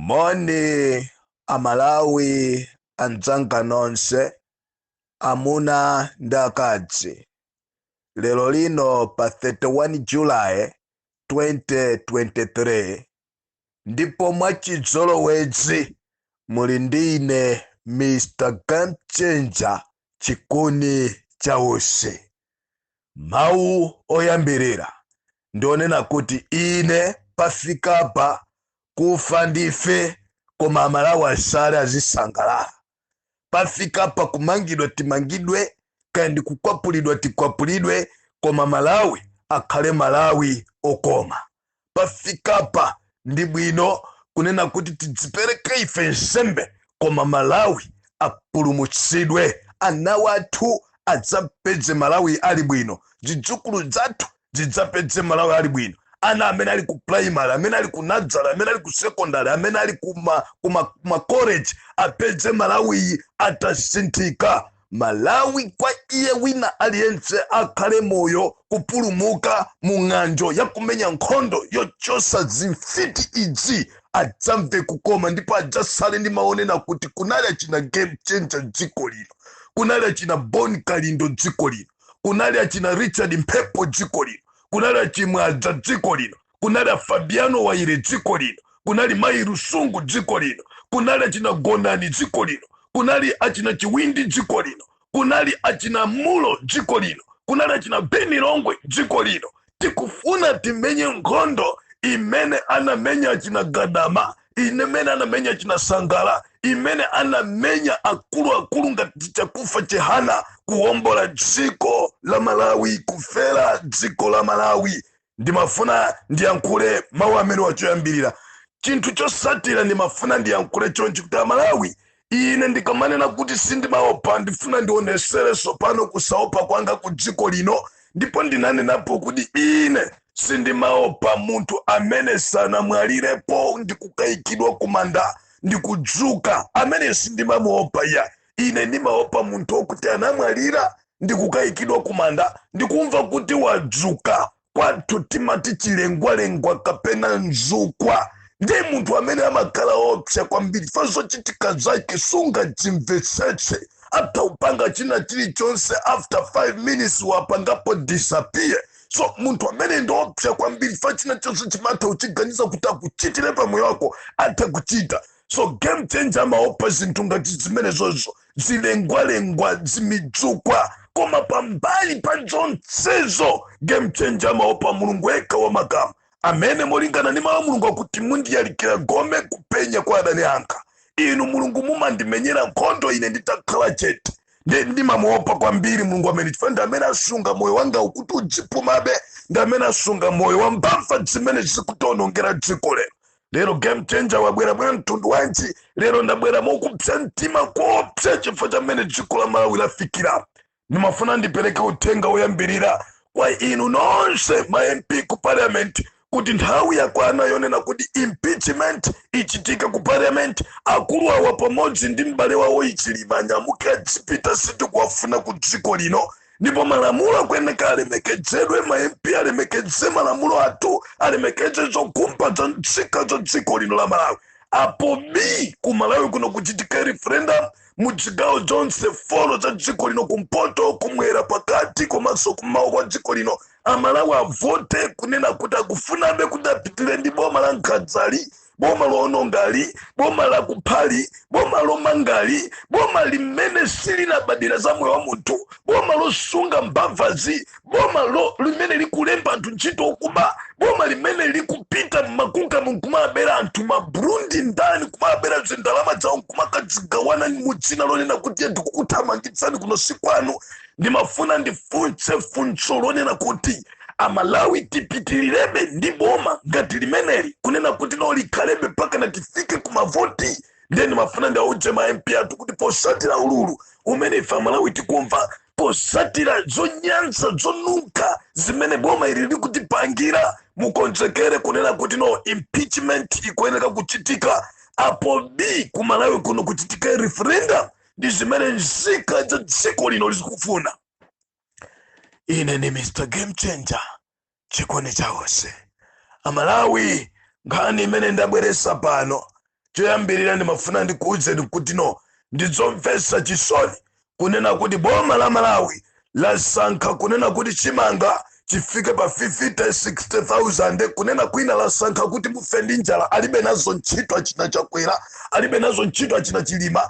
Moni amalawi andzanga nonse amuna ndi akadzi lero lino pa 31 July 2023 ndipo mwachidzolowedzi muli ndi ine Mr Game Changer chikuni cha usi. Mawu oyambirira ndi onena kuti ine pafikapa kufa ndife koma amalawi asale azisangalala. Pafikapa kumangidwa timangidwe kandi kukwapulidwa tikwapulidwe koma Malawi akhale Malawi okoma. pafikapa ndi bwino kunena kuti tidzipereke ife nsembe koma malawi apulumutsidwe ana wathu adzapedze malawi ali bwino zidzukulu dzathu zidzapedze malawi ali bwino ana amene ali ku primary amene ali ku nursery amene ali ku secondary amene ali ku makoleji apedze malawiyi atasinthika Malawi kwa iye wina aliyense akhale moyo kupulumuka mu ng'anjo ya kumenya nkhondo yochosa zimfiti idzi adzamve kukoma ndipo adzasale ndi mau onena kuti kunali achina game changer dziko lino kunali achina bon kalindo dziko lino kunali achina richard mphepo dziko lino kunali achiMwanza dziko lino kunali a Fabiano Waire dziko lino, kunali Mayi Lusungu dziko lino, kunali achina Gonani dziko lino, kunali achina Chiwindi dziko lino, kunali achina Mulo dziko lino, kunali achina Beni Longwe dziko lino. Tikufuna timenye nkhondo imene anamenya achina Gadama, imene anamenya achina Sangala, imene anamenya akuluakulu ngati Chakufa Chihana, kuwombola dziko la Malawi, kufera dziko la Malawi. ndimafuna ndiyankhule mawu amene wachoyambirira chinthu chosatira ndimafuna ndiyankhule chonchi kuti amalawi ine ndikamanena kuti sindimaopa ndifuna ndioneserenso pano kusaopa kwanga ku dziko lino ndipo ndinanenapo kuti ine sindimaopa munthu amene sanamwalirepo ndikukayikidwa kumanda ndikudzuka amene sindimamuopa iyayi ine ndimaopa munthu okuti anamwalira ndi kukayikidwa kumanda ndikumva kuti wadzuka kwathu timati chilengwalengwa kapena nzukwa ndi munthu amene amakhala opsa kwambiri fa zochitika zake sungadzimvetsetse atha kupanga china chilichonse after 5 minutes wapangapo disappear so munthu amene ndi opsa kwambiri fa china chonse chimene angachiganize kuti akuchitire pa moyo wako atha kuchita so game changer amaopa zinthu ngati zimenezozo zilengwalengwa zimidzukwa koma pambali pa zonsezo game changer amaopa mulungu ekha wa makamu amene molingana ndi mawu a mulungu akuti mundiyalikira gome kupenya kwa adani anga inu mulungu mumandimenyera nkhondo ine nditakhala chete ndi ndimamuopa kwambiri mulungu amene chifukwa ndi amene asunga moyo wanga ukuti udzipumabe ndi amene asunga moyo wa mbava zimene zikutiwonongera dziko lero lero game changer wabwera mwa mtundu wanji lero ndabwera mokupsa mtima koopsa chifukwa cha mmene dziko la malawi lafikira ndimafuna ndipereke uthenga woyambirira kwa inu nonse ma mp ku parliament kuti nthawi yakwana yonena kuti impeachment ichitike ku parliament akulu awa pamodzi ndi m'bale wawo a chilima anyamuke adzipita sitikuwafuna ku dziko lino ndipo malamulo akuyeneka alemekedzedwe ma mp alemekedze malamulo athu alemekedze zokhumba za nzika za dziko lino la malawi apo bi ku malawi kuno kuchitike referendum mu zigawo zonse folo za dziko lino kumpoto kumwera pakati komanso kummawa kwa dziko lino amalawi avote kunena kuti akufunabe kuti apitire ndi boma la nkhanzali boma loonongali boma lakuphali boma lomangali boma limene sililabadira za moyo wa munthu boma losunga mbavazi boma lo, limene likulemba anthu ntchito okuba boma limene likupita mmakhukhamu nkumabera anthu maburundi ndani kumabera zindalama zawo nkumakadzigawana mu dzina lonena kuti edi kukuthamangitsani kuno sikwanu ndimafuna ndifunse funso lonena kuti amalawi tipitilirebe ndi boma ngati limeneli kunena kuti no likhalebe mpakana tifike kumavoti nde ndimafuna ndiauze ma mp athu kuti potsatira ululu umene ife amalawi tikumva potsatira zonyansa zonunkha zimene boma ili likutipangira mukonzekere kunena kuti no impeachment ikuyeneka kuchitika apo bi kumalawi kuno kuchitike referendum ndi zimene nzika za dziko lino zikufuna ine ndi mr game changer chikondi cha onse amalawi nkhani imene ndabweretsa pano choyambirira ndimafuna ndikuwuzeni kuti no ndi zomvetsa chisoni kunena kuti boma la malawi lasankha kunena kuti chimanga chifike pa 50 60000 kunena kwina lasankha kuti mufe ndi njala alibe nazo ntchito achina chakwera alibe nazo ntchito achina chilima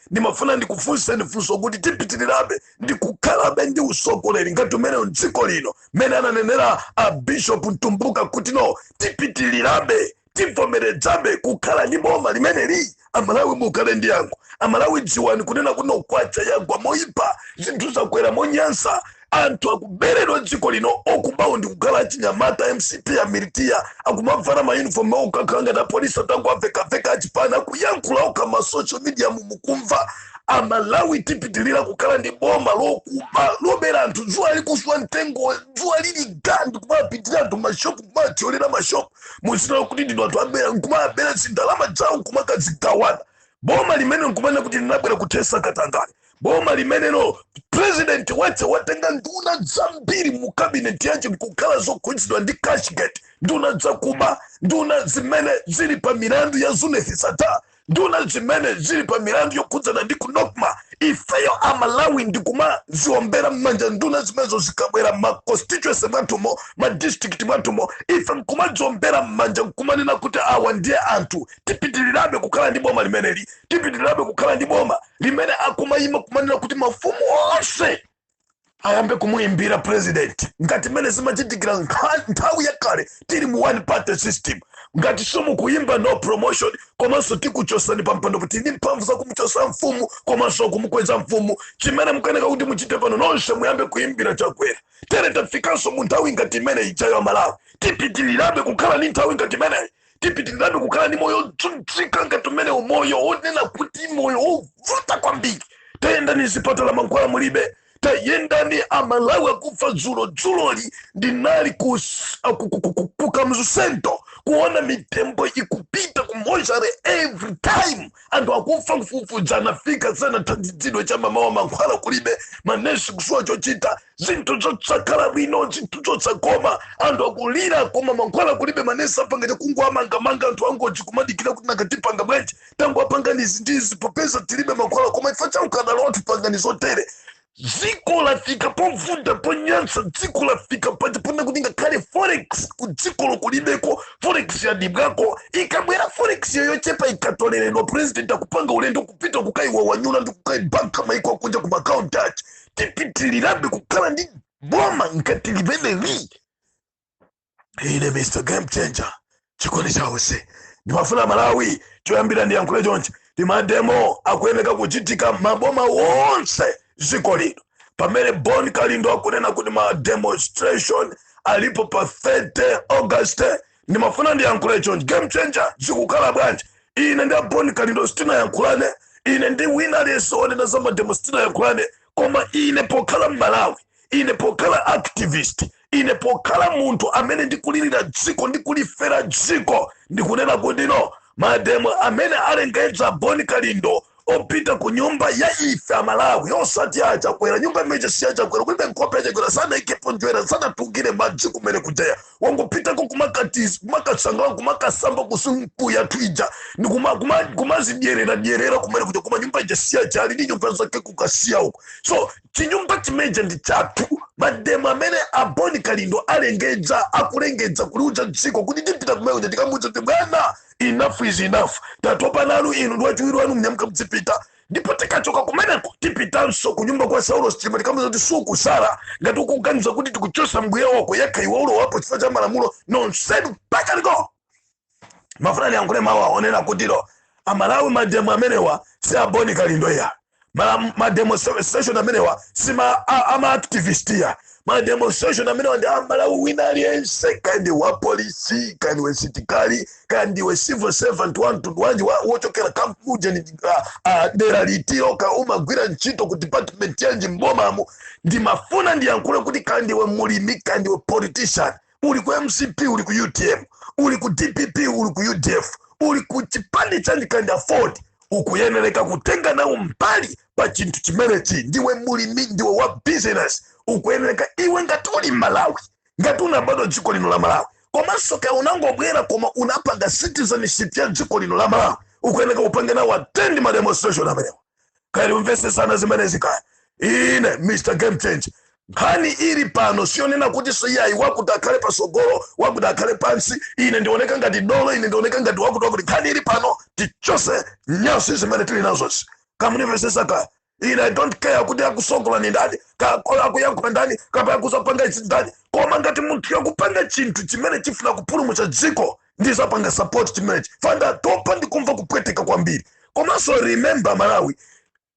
ndimafuna ndikufunseni funso kuti tipitirirebe ndi kukhalabe ndi utsogoleri ngati umenewu mdziko lino mmene ananenera a bishop mtumbuka kuti no tipitirirebe tivomerezebe kukhala ndi boma limeneli amalawi mukhale ndi yankho amalawi dziwani kunena kuti no kwacha yagwa moyipa zinthu zakwera monyansa anthu akuberedwa dziko lino okubawo ndikukhala achinyamata mcp amilitia akumavala mayunifomu okhala ngati apolisi atangowavekaveka achipani akuyankhula okha ma social media mukumva amalawi tipitilira kukhala ndi boma lokuba lobera anthu dzuwa likuswa mtengo dzuwa lili ga ndikumapitirira anthu mashopu kumathyolera mashopu mudzina lakuti ndinu anthu abera nkumabera zindalama zawo nkumakazigawana boma limene nkumanena kuti linabwera kuthesa katangale boma limenelo president wache watenga nduna zambiri mu kabineti yace nkukhala zokhudzidwa ndi cashgate nduna zakuba nduna zimene zili pa milandu ya zuneth sattar nduna zimene zili pa milandu yokhudzana ndi ku nocma ifeyo amalawi ndikumaziombera mmanja nduna zimenezo zikabwera ma constituency mwathumo ma district mwathumo ife nkumaziombera mmanja nkumanena kuti awa ndiye anthu tipitirirabe kukhala ndi boma limeneli tipitirirabe kukhala ndi boma limene akumayima kumanena kuti mafumu onse ayambe kumuyimbira president ngati mmene zimachitikira nkha- nthawi yakale tili mu one party system ngati simukuyimba no promotion komanso tikuchosani pa mpando tili ndi mphamvu zakumuchosa mfumu komanso kumukweza mfumu chimene mukuyeneka kuti muchite pano nonse muyambe kuyimbira chakwera tere tafikanso mu nthawi ngati imene ijayo amalawi tipitirirabe kukhala ndi nthawi ngati imeneyi tipitirirabe kukhala ndi moyo odzunzika ngati umeneu moyo wonena kuti moyo wovuta kwambiri tayendani zipatala mankhwala mulibe tayendani amalawi akufa dzulo dzuloli ndinali ku kamuzu central kuona mitembo ikupita ku mortuary every time anthu akufa kufufuza anafika sanathandizidwe cha mamawa mankhwala kulibe manesi kusowa chochita zinthu zosakhala bwino zinthu zosakoma anthu akulira koma mankhwala kulibe manesi apanga cha kungowamangamanga anthu angozi kumadikira kuti nanga tipanga bwanji tangowapangani izi ndi izi popeza tilibe mankhwala koma ife cha ukadaulo wathu pangani zotere dziko lafika povuta ponyansa dziko lafika pachipona kuti ngakhale forex ku dzikolo kulibeko forex yadibwako ikabwera forex yo yochepa ikatoleredwa president akupanga ulendo kupita kukaiwawanyula ndi kukaibanka maiko akunja ku maakaunti ache tipitirirabe kukhala ndi boma ngati limeneli ine mr game changer chikondi chawuse ndimafuna malawi choyambira ndiyankhule chonchi kuti mademo akuyeneka kuchitika maboma wonse dziko lino pamene bon kalindo akunena kuti ma demonstration alipo pa 30 august Ndimafuna ndiyankhule chonchi. Game changer zikukhala bwanji? Ine ndi a Bon Kalindo sitinayankhulane, ine ndi wina aliyense onena za mademo sitinayankhulane, koma ine pokhala Mmalawi, ine pokhala activist, ine pokhala munthu amene ndikulirira dziko, ndikulifera dziko, ndikunena kuti no, mademo amene alengeza a Bon Kalindo opita ku nyumba ya ife amalawi osati ya achakwera nyumba imeneyi si yachakwera kulibe nkhope yachakwera sanaikepo njerwa sanatungire madzi kumene kuja ya angopitako kumakatiz- kumakasangalala kumakasamba misonkho yathu ija ni kuma- kuma- kumazidyereradyerera kumene kuja koma nyumba ija si yache ali ndi nyumba zake kukasiya uko so chinyumba chimeja ndi chathu mademo amene aboni kalindo alengeza akulengeza kuliuza dziko kuti tipita kumeneko tikamuuza kuti bwana enough is enough tatopa nanu inu ndi wachiwiri wanu munyamuke mudzipita ndipo tikachoka kumeneko tipitanso kunyumba kwa saulos chilima tikamuuza kuti sukusala ngati ukuganiza kuti tikuchosa mbuye wako yekha iwe ulowapo chifukwa cha malamulo nonsenu mpaka liko mafuna ndiyankhule mawu onena kuti amalawi mademo amenewa si aboni kalindo ya ma, ma demonstration amenewa si ma a- ama activist ya ma demonstration amenewa ndi amalawi wina aliyense kaya ndi wa polisi kaya ndiwe msilikali kaya ndiwe civil servant wa mtundu wanji wa- wochokera ka mujeni ah, ah, dera litilo ka umagwira ntchito ku department yanji mbomamu ndimafuna ndiyankhule kuti kaya ndiwe mulimi kaya ndiwe politician uli ku mcp uli ku utm uli ku dpp uli ku udf uli ku chipani chanji kaya ndi aford ukuyeneleka kutenga nawo mbali pa chinthu chimenechi ndiwe mulimi ndiwe wa business ukuyeneleka iwe ngati uli mmalawi ngati unabadwa dziko lino la malawi komanso kaya unangobwera koma unapanga citizenship ya dziko lino la malawi ukuyeneleka upange nawo attend ma demonstration amenewa kaya timvesesana zimenezi kaya ine mr game changer nkhani ili pano siyonena kuti so yayi wakuti akhale pasogolo wakuti akhale pansi ine ndioneka ngati dolo ine ndioneka ngati wakuti wakuti nkhani ili pano tichose nyasi zimene tili nazozi kamunimvesesa kaya ine i don't care kuti akusogola ni ndani kakola akuyankhula ndani kapena akuzapanga izi ndani koma ngati munthuyo akupanga chinthu chimene chifuna kupulumutsa dziko ndizapanga support chimenechi chifukwa ndatopa ndikumva kupweteka kwambiri komanso remember malawi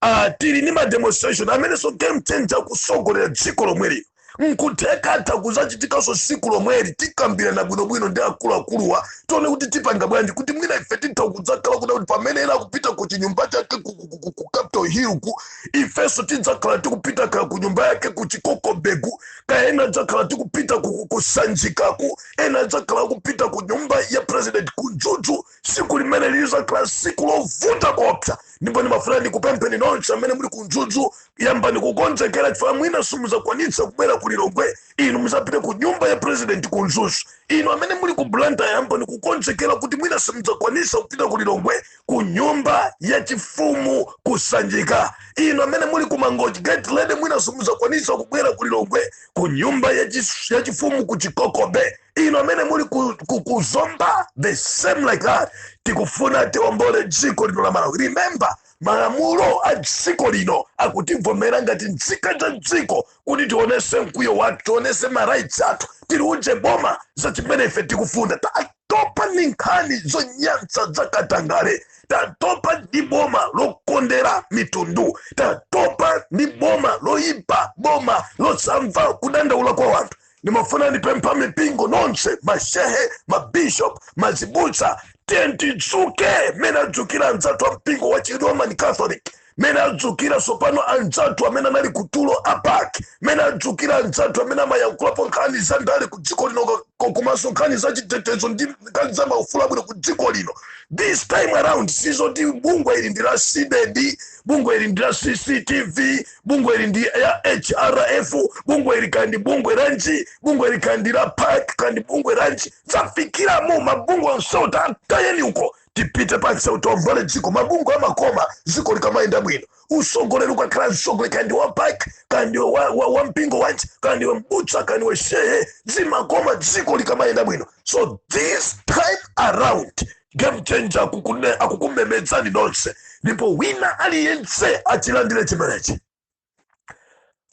uh, tili ni mademonstration amenenso game changer akusogolera dziko lomweli nkutheka atha kuzachitikanso siku lomweli tikambirana bwinobwino ndi akuluakuluwa tione kuti tipanga bwanji kuti mwina ife titha kudzakhala kuda kuti pamene ena akupita ku chinyumba chake ku- ku- ku- ku capital hill ku ifenso tidzakhala tikupita kaya ku nyumba yake ku chikoko bay ku kaya ena tidzakhala tikupita ku- ku- kusanjikaku ena adzakhala akupita ku nyumba ya president ku mzuzu siku limeneli lizakhala siku lovuta koopsa ndipo ndimafuna ndikupempheni nonse amene muli ku mzuzu yambani kukonzekera chifukwa mwina simuzakwanitsa kubwera ku lilongwe inu muzapite ku nyumba ya president ku mzuzu inu amene muli ku blantyre yambani kukonzekera kuti mwina simudzakwanisa kupita ku lilongwe ku nyumba ya chifumu ku sanjika inu amene muli ku mangochi get ready mwina simuzakwanisa kubwera ku lilongwe ku nyumba ya chis- ya chifumu ku chikoko bay inu amene muli ku, ku, ku zomba the same like that tikufuna tiombole dziko lino la malawi remember malamulo a dziko lino akutivomera ngati nzika za dziko kuti tionese mkwiyo wathu tionese ma rights athu tiliuze boma za chimene ife tikufuna tatopa ndi nkhani zonyansa za katangale tatopa ndi boma lokondera mitundu tatopa ndi boma loyipa boma losamva kudandaula kwa wanthu ndimafuna ndipempha mipingo nonse mashehe mabishop mazibusa tiyeni tidzuke mene adzukira anzathu a mpingo wa chiroman catholic mene adzukira tsopano anzathu amene anali kutulo a pac mene adzukira anzathu amene amayankhulapo nkhani za ndale ku dziko lino ko- ko- komanso nkhani za chitetezo ndi nkhani za maufulu abwino ku dziko lino this time around sizoti bungwe ili ndi la cbd bungwe ili ndi la cctv bungwe ili ndi ya hrf bungweli kaya ndi bungwe lanji bungweli kaya ndi la pac kaya ndi bungwe lanji zafikiramu mabungwe onsewo tatayeni uko tipite pamseu tiombole dziko mabungwe amakoma dziko likamayenda bwino usogoleri ukakhala msogoleri kaya ndi wa pac kaya ndi wa, wa, wa mpingo wanji kaya ndi wa mbusa kaya ndi wa shehe zimakoma dziko likamayenda bwino so this time around game changer akukune- akukumemezani nonse ndipo wina aliyense achilandire chimenechi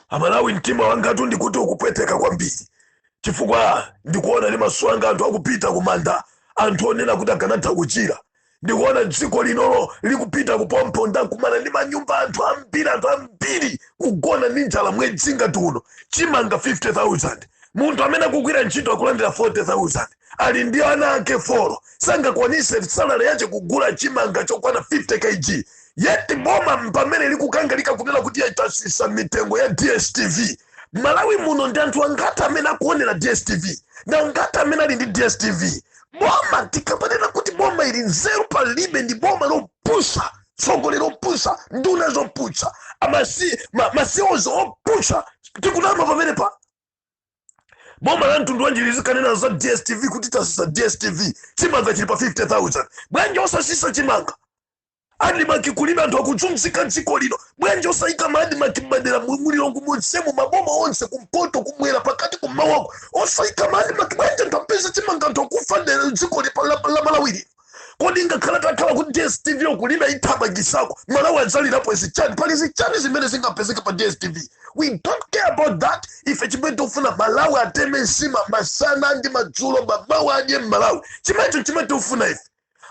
amalawi mtima wangatu ndikuti ukupweteka kwambiri chifukwa ndikuona ndi maso anga anthu akupita kumanda anthu onena kuti akanatha kuchira ndikuona dziko linolo likupita kupompo ndakumana ndi manyumba anthu ambiri anthu ambiri kugona ndi njala mwezi ngati uno chimanga 50000 munthu amene akugwira ntchito akulandira 40000 ali ndi ana ake 4 sangakwanise salary yache kugula chimanga chokwana 50 kg yet boma pamene likukangalika kunena kuti yatasisa mitengo ya dstv malawi muno ndi anthu angati amene akuonera dstv ndi angati amene ali ndi dstv boma tikamanena kuti boma ili nzeru palibe ndi boma lopusa atsogoleri opusa nduna zopusa amasi ma- ma ceos opusa tikunama pamenepa boma la mtundu wanji lizikanena za dstv kuti tasisa dstv chimanga chili pa 50000 bwanji osasisa chimanga admarc kulibe anthu akuzunzika dziko lino bwanji osayika ma admarc m'madera mu- mulilongo monsemu maboma onse kumpoto kumwera pakati kummawako osayika ma admarc bwanji anthu apeze chimanga anthu akufa dera dziko li- la la malawiri kodi ngakhale takhala kuti dstv kulibe itabakitsako amalawi adzalirapo zichani pali zichani zimene zingapezeka pa dstv we don't care about that ife chimene tofuna amalawi ateme nsima masana ndi madzulo mamawa adye Mmalawi chimenecho chimene tofuna ife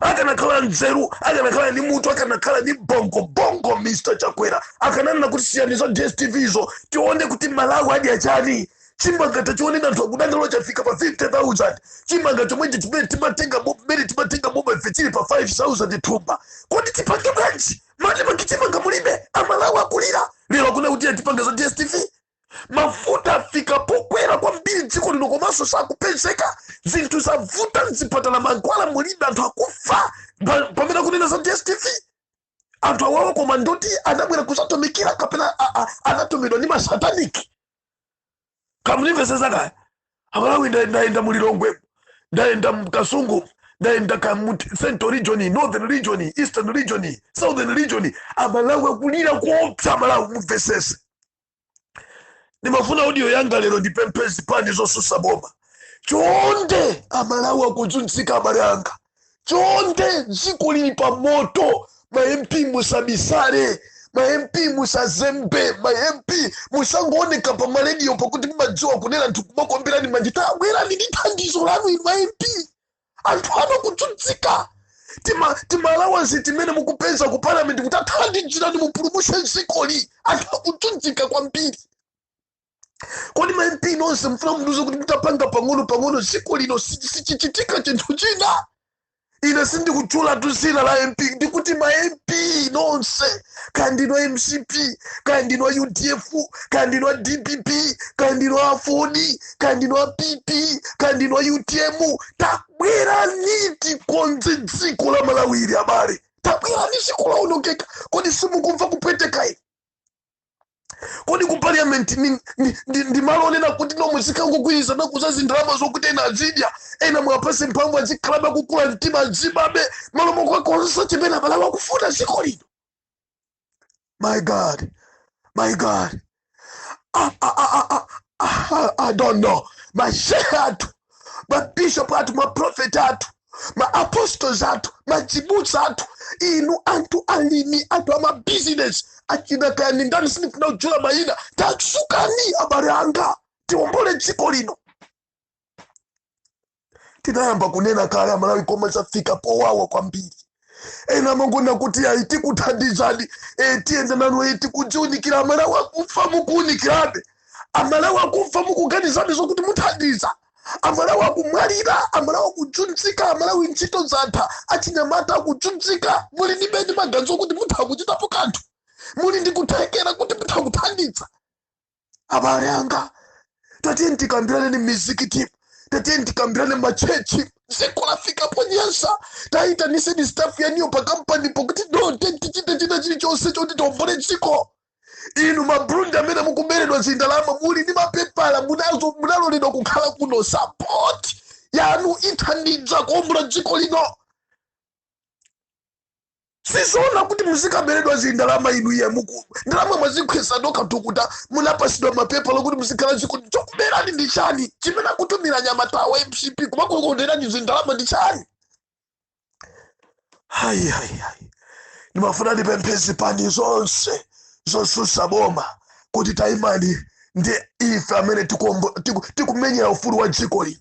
akanakhala nzeru akanakhala ndi mutu akanakhala ndi bongo bongo mr chakwera akananena kuti siyani za dstv izo tione kuti amalawi adya chani chimanga tachioneni anthu akudandaula chafika pa 50000 chimanga chomwechi chimene timatenga bo- mmene timatenga boma ife chili pa 5000 thumba kodi tipange bwanji mu ADMARC chimanga mulibe amalawi akulira lero akunena kuti atipange za dstv mafuta afika pokwera kwambiri dziko lino komanso sakupezeka zinthu zavuta mzipatala mankhwala mulibe anthu akufa pa- pamene akunena za dstv anthu awawa koma ndoti anabwera kuzatumikira kapena a- a- anatumidwa ndi masataniki ngati mundimvesesa kaya amalawi nda- ndayenda mu lilongwe ndayenda mkasungu ndayenda ka mu t- central region northern region eastern region southern region amalawi akulira kuopsa amalawi mumvesese ndimafuna audio yanga lero ndipemphe zipani zosusa boma chonde amalawi akuzunzika abale anga chonde dziko lili pa moto ma mp musabisale ma mp musazembe ma mp musangooneka pa marediyo pakuti mumadziwa kunena anthu kumakuomberani manja tabwerani ndi thandizo lanu inu ma mp anthu anu akuzunzika tima timalawansi timene mukupeza ku parliament kawathandizireni mupulumuse dzikoli anthu akuzunzika kwambiri kodi ma mp nonse mfuna mundiuze kuti mutapanga pang'ono pang'ono dziko lino si- sichichitika chinthu china ine sindikutchulatu dzina la mp ndikuti ma mp nonse kaya ndinu a mcp kaya ndinu a udf kaya ndinu a dpp kaya ndinu a aford kaya ndinu a pp kaya ndinu a utm tabwerani tikonze dziko la malawi ili abale tabwerani dziko laonongeka kodi simukumva kupweteka inu kodi ku parliament ni, ni, ni, ndi malo onena kuti inu muzikangogwirizana za ndalama zokuti ena azidya ena muwapase mphamvu azikhalabe akukula mtima azibabe malo mokakonza chimene amalawi akufuna dziko lino My God. My God. I, I, I, I, I, I don't know. My shepherd, my bishop, my prophet, my apostles, my chibuts, inu antu alimi antu ama business achina kani ndani sini kuna ujula maina taksukani abale anga tiombole dziko lino tinayamba kunena kale amalawi koma zafika powawa kwambiri ena amangonena kuti ayi tikuthandizani e, tiyenda nanu e, tikuziunikira amalawi akufa mukuunikirabe amalawi akufa mukuganizabe zokuti muthandiza amalawi akumwalira amalawi akuzunzika amalawi ntchito zatha achinyamata akuzunzika mulibe ndi maganizo kuti mutha kuchitapo kanthu muli ndi kuthekera kuti mutha kuthandiza abale anga tatiyeni tikambirane ni mizikiti tatiyeni tikambirane machechi dziko lafika ponyansa tayitanise ni staff yanuyo pakampani pokuti titi tichite china chilichonse choti tiombole dziko inu maburundi amene mukuberedwa zindalama muli ndi mapepala munaloledwa kukhala kuno sapoti yanu ithandiza kuombula dziko lino sizoona kuti muzikaberedwa zindalama inu iye muku ndalama mwazikhwesa nokha thukuta munapasidwa mapepala okuti muzikhala dziko chokuberani ndi chani chimene akutumira anyamata a mcp kumakuberani zindalama ndi chani hayi hayi hayi ndimafuna ndipemphe zipani zonse zosusa boma kuti tayimani ndi ife amene tikombo- tiku- tikumenyera ufulu wa dziko lino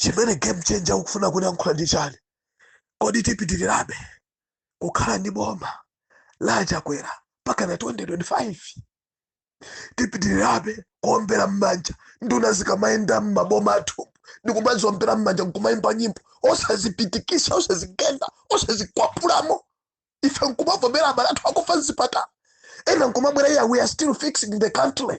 chimene game changer ukufuna kuyankhula ndi chani kodi tipitirirabe kukhala ndi boma la chakwera mpaka na 2025 tipitirirabe kuombera m'manja nduna zikamayenda m'maboma athu ndikumaziombera m'manja nkumayimba nyimbo osazipitikisa osazigenda osazikwapulamo ife nkumavomera abale athu akufa mzipatala ena nkumabwera here we are still fixing the country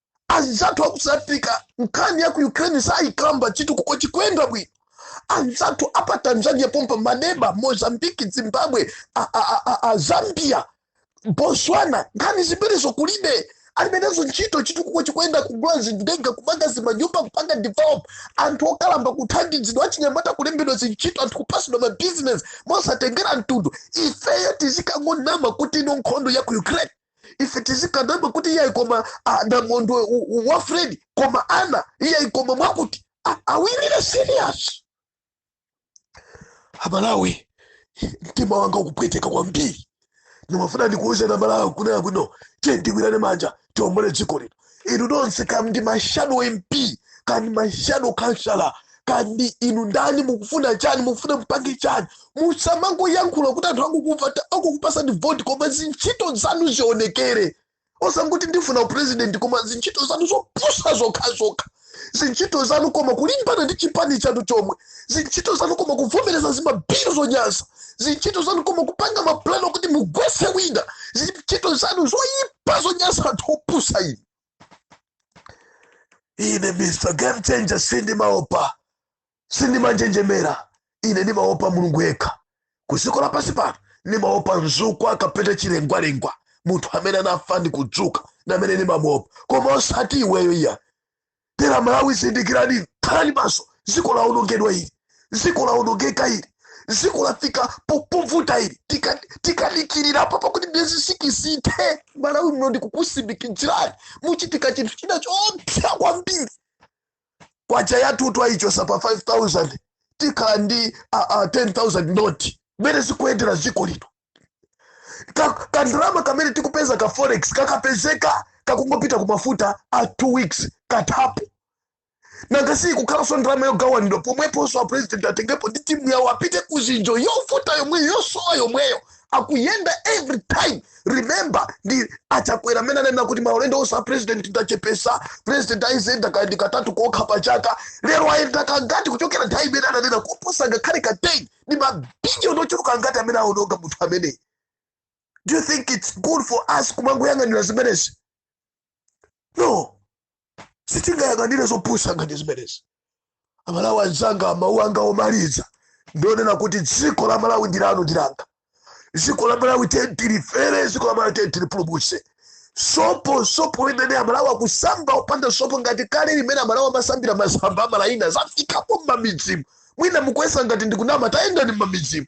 anzathu aku south africa nkhani ya ku ukraine sayikamba chitukuko chikuyenda bwino anzathu apa tanzania pompa maneba mozambiki zimbabwe a, a, a, a, a zambia botswana nkhani zimenezo kulibe ali nazo ntchito chitukuko chikuyenda kugula zindege kumanga zimanyumba kupanga develop anthu okalamba kuthandizidwa achinyamata kulembedwa zintchito anthu kupasidwa mabizinesi mosatengera mtundu ifeyo tizikangonama kuti ino nkhondo ya ku ukraine ife tizikanama kuti iyayi koma ah, namondwe u- u- wa fred koma Ana iyayi koma mwakuti Ah, are we really serious amalawi mtima wanga ukupweteka kwambiri ndimafuna ndikuuze amalawi kunena kuti tiye tigwirane manja tiombole dziko lino inu nonse kaya ndi mashado mp kaya ndi mashado kansala kaya ndi inu ndani mukufuna chani mukufuna mpange chani musamangoyankhula kuti anthu akukumva ta- akukupasani voti koma zintchito zanu zionekere osangoti ndifuna upresident koma zintchito zanu zopusa zokhazokha zintchito zanu koma kulimbana ndi chipani chanu chomwe zintchito zanu koma kuvomereza zimabilu zonyansa zintchito zanu koma kupanga mapulani okuti mugwetse wina zintchito zanu zoyipa zonyansa anthu opusa inu ine mr game changer sindimaopa sindimanjenjemera ine ndimaopa mulungu yekha ku dziko lapansi pano ndimaopa mzukwa kapena chilengwalengwa munthu amene anafa ndi kudzuka ndi amene ndimamuopa koma osati iweyo iya tere malawi zindikirani khalani maso dziko laonongedwa ili dziko laonongeka ili dziko lafika popovuta ili Tika- tikadikirira apa pakuti miyezi sikisithe malawi muno ndikukusimikizirani muchitika chinthu china choopsa kwambiri kwacha yathu twayichosa pa 5000 tikhala ndi uh, uh, 10000 noti mmene zikuyendera dziko lino Ka- kandalama kamene tikupeza ka forex kakapezeka kakungopita ku mafuta a 2 weeks kathapo nanga si ikhalanso ndalama yogawanidwa pomweponso a president atengepo ndi timu yawo apite ku zinjo ya mafuta yomweyo yosowa yomweyo akuyenda every time remember ndi achakwera amene ananena kuti maulendo onse a president ndiachepesa president aizenda kaya ndi katatu kokha pa chaka lero ayenda kangati kuchokera nthawi imene ananena koposa ngakhale ka 10 ndi mabiliyoni ochuluka ngati amene aononga munthu ameneyi do you think it's good for us kumangoyang'anira zimenezi no sitingayang'anire zopusa ngati zimenezi amalawi anzanga mawu anga omaliza ndionena kuti dziko la malawi ndi lanu ndi langa dziko la malawi tiyeni tilifere dziko la malawi tiyeni tilipulumuse sopo sopo imene amalawi akusamba opanda sopo ngati kale limene amalawi amasambira masamba amalayina zafikapo mmamidzimu mwina mukuyesa ngati ndikunama tayendani mmamidzimu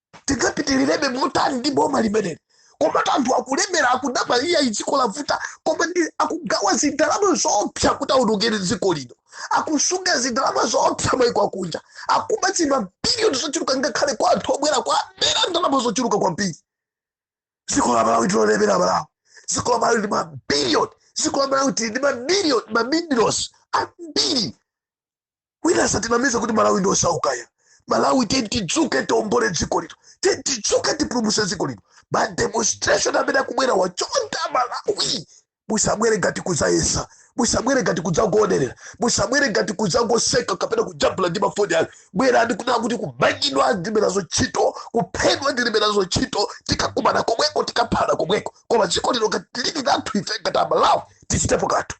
tingapitilirebe motani ndi boma limeneli komatu anthu akulemera akudabwa iyayi dziko lavuta koma ndi akugawa zindalama zoopsa kuti aonongere dziko lino akusunga zindalama zoopsa maiko akunja akuba zimabiliyoni zochuluka ngakhale kwa anthu obwera kuwabera ndalama zochuluka kwambiri dziko la malawi ndi lolemera malawi dziko la malawi ndi mabiliyoni dziko la malawi tili ndi mamiliyoni mamilions ambiri wina asatinamize kuti malawi ndi osauka ayi amalawi tiyeni tidzuke tiombole dziko lino tiyeni tidzuke tipulumuse dziko lino ma demonstration amene akubwerawa chonde amalawi musabwere ngati kudzayesa musabwere ngati kudzakuonerera musabwere ngati kudzangoseka kapena kujambula ndi mafoni anu bwerani kunena kuti kumangidwa ndilibe nazo ntchito kuphedwa ndilibe nazo ntchito tikakumana komweko tikaphana komweko koma dziko lino ngati lili lathu ife ngati amalawi tichitepo kanthu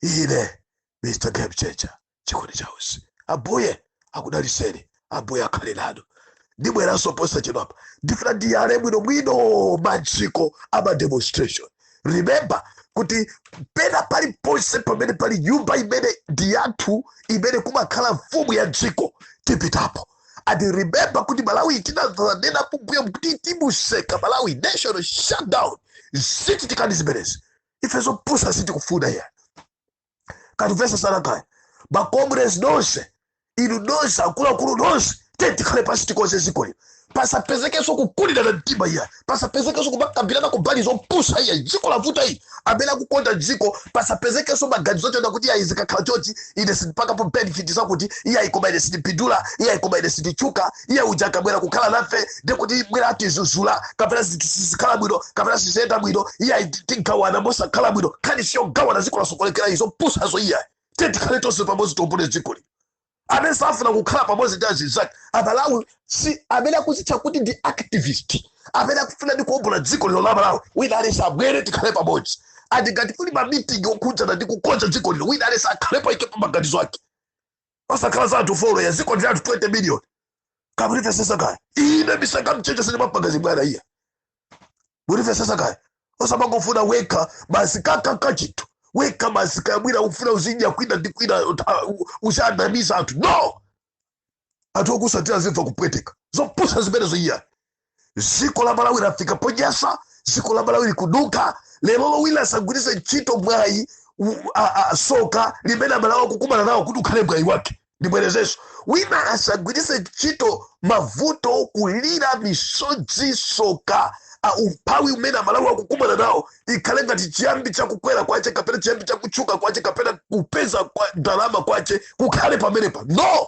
ine mr game changer chikondi chausi ambuye akudaliseni ambuye akhale nanu ndibweranso posachedwapa ndifuna ndiyale bwinobwino matsiku a ma demonstration remember kuti pena paliponse pamene pali nyumba imene ndi yathu imene kumakhala mfumu ya dziko tipitapo and remember kuti malawi tinazanena kumbuyo kuti timuseka malawi national shutdown zichitika ndi zimenezi ife zopusa sitikufuna iyayi ka Timve Sanakaya makomredi nonse inu nonse akuluakulu nonse tiye tikhale pansi tikonze ziko lino pasapezekenso kukulirana mtima iyayi pasapezekenso kumakambirana kumbali zopusa iyayi dziko lavuta ili amene akukonda dziko pasapezekenso maganizo ochona kuti iyayi zikakhala chochi ine sindipangapo benefit zakuti iyayi koma ine sindipindula iyayi koma ine sinditchuka iyayi uja akabwera kukhala nafe nde kuti mwina atidzudzula kapena zinthu sizikhala bwino kapena siziyenda bwino iyayi ti- tigawana mosakhala bwino nkhani siyogawana dziko lasokonekera zopusazo iyayi tiye tikhale tonse pamodzi tiombole dzikoli amene safuna kukhala pamodzi ndi anzake amalawi ndi amene akuzitcha kuti ndi activist amene akufunadi kuombola dziko lino la malawi wina aliyense abwere tikhale pamodzi and ngati kuli mamitingi okhudzana ndi kukonza dziko lino wina aliyense akhalepo ayikepo maganizo ake osakhala za anthu folo iyayi ziko ndi anthu 20 million kamulepetsetsa kaya ine Msaka mchecho sindimapanga zibwana iyayi mulepetsetsa kaya osamangofuna weka basi kakaka chinthu weka basi kayabwira ufuna uzidya kwina ndi kwina uh, uzinamiza anthu no anthu okusatira azimva kupweteka zopusa zimenezo iyayi dziko la malawi lafika ponyasa dziko la malawi likudutsa lerolo wina asagwiritse ntchito mwayi u- a- a- soka limene amalawi akukumana nawo kuti ukhale mwayi wake ndibwerezenso wina asagwiritse ntchito mavuto kulira misodzi soka umphawi umene amalawi akukumana nawo ikhale ngati chiyambi chakukwera kwache kapena chiyambi chakutchuka kwache kapena kupeza kwa ndalama kwache kukhale pamenepo no